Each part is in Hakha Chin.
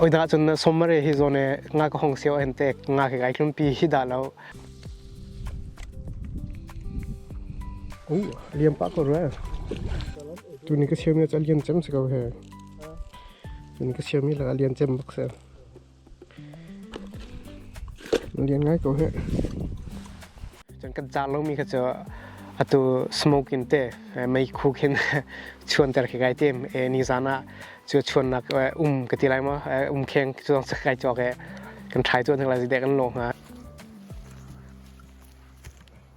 oi da chun somare hi zone nga ko hong seo ente nga ke gai tlum pi hi da lo u liam pa ko ra tu ni ka siam ne chal lian chem se ko he tu ni ka siam ni la lian chem bak se Lian ngai ko hih. Cun kan car lomi kha cu atu smoke in te meikhu khin chuanter khi kai tim. Nizaan ah cu chuannak um ka ti lai maw? Um kheng cu zong sak kai cawk i kan trai cuan hnik lai, zeidek kan lawh hnga.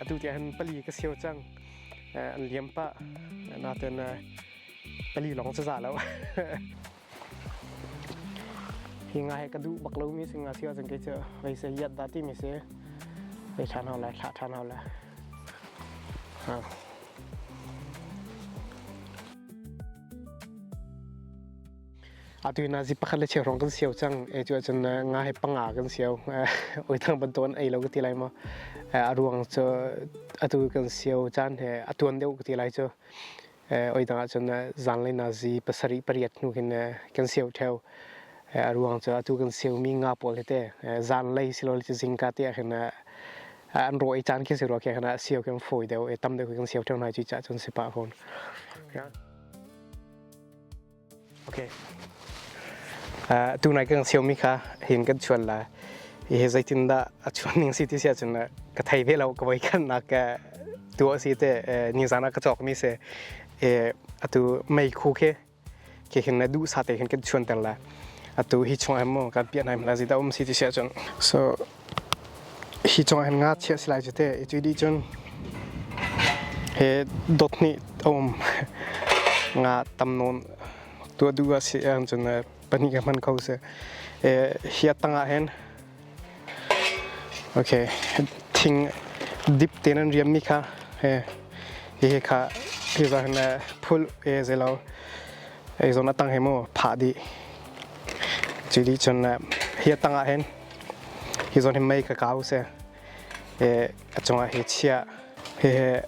atu ti han pali ka siêu cang an liam pa naten pali long cha za lo hi nga he ka duh bak lomi si nga si ahcun kei cu vei se hiat dah timi si vei ṭhan hau lai thlah ṭhan hau lai ha atu na zi pakhat le chen rong kan siau cang e chu cun nga he panga kan siau oi thang ban ton ei lo ka ti lai ma a ruang chu atu kan siau caan he atuan deuh ka ti lai chu oidang ahcun zanlei nazi pasarih pariat hnu khin kan siau theo a ruang cu atu kan siaumi nga pawl hi te zanlei silole cu zingka te ahhin an rawh i caan khi si rua khe khana siau khi an fawi deuh i tam deuh khi kan siau theo hna cu cah cun si pah fawn Okay. Uh, tunai kan xiaomi kha hin kan chuan la hi zeitin dah a chuan ning si ti sia chun ka thai ve lo ka voi kan na ka tu asi te ni zana ka chok mi se e atu mei khu ke ke hin na du sa te hin kan chuan tel la atu hi chung em mo kan pian hai mala ji da um si ti sia chun so hi cungah hin ngakchia si lai cu teh i cu dih cun he dot hnih a um nga tam nawn tu a duh a si ang cun pahnih ka hman ko sih hi a tangah hin okay thing dip te nan riam mi kha he hihi kha hi za hin phul e ze lo ei zon a tang he mu phah di ci di cun hi a tangah hin hi zawn hi mei ka ka usih a cungah hi chiah hehe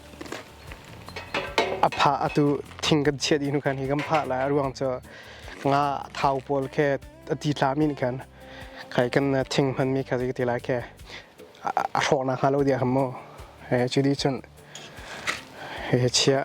a phah atu thing kan chiah dih nu khan hi kan phah lai a ruang cu nga thau pawl khe a ti tla min khan khai kan thing hman mi kha ti lai khe a hrawh na hnga lo dia ham mo he chu di chun he chiah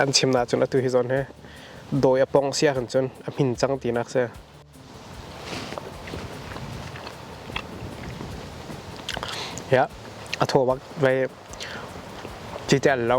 Kan chim na cun atu hi zawn hi dawi a pong sia kan cun a hmin cang ti nak si. Ya, a thaw bak vai chi tel lo.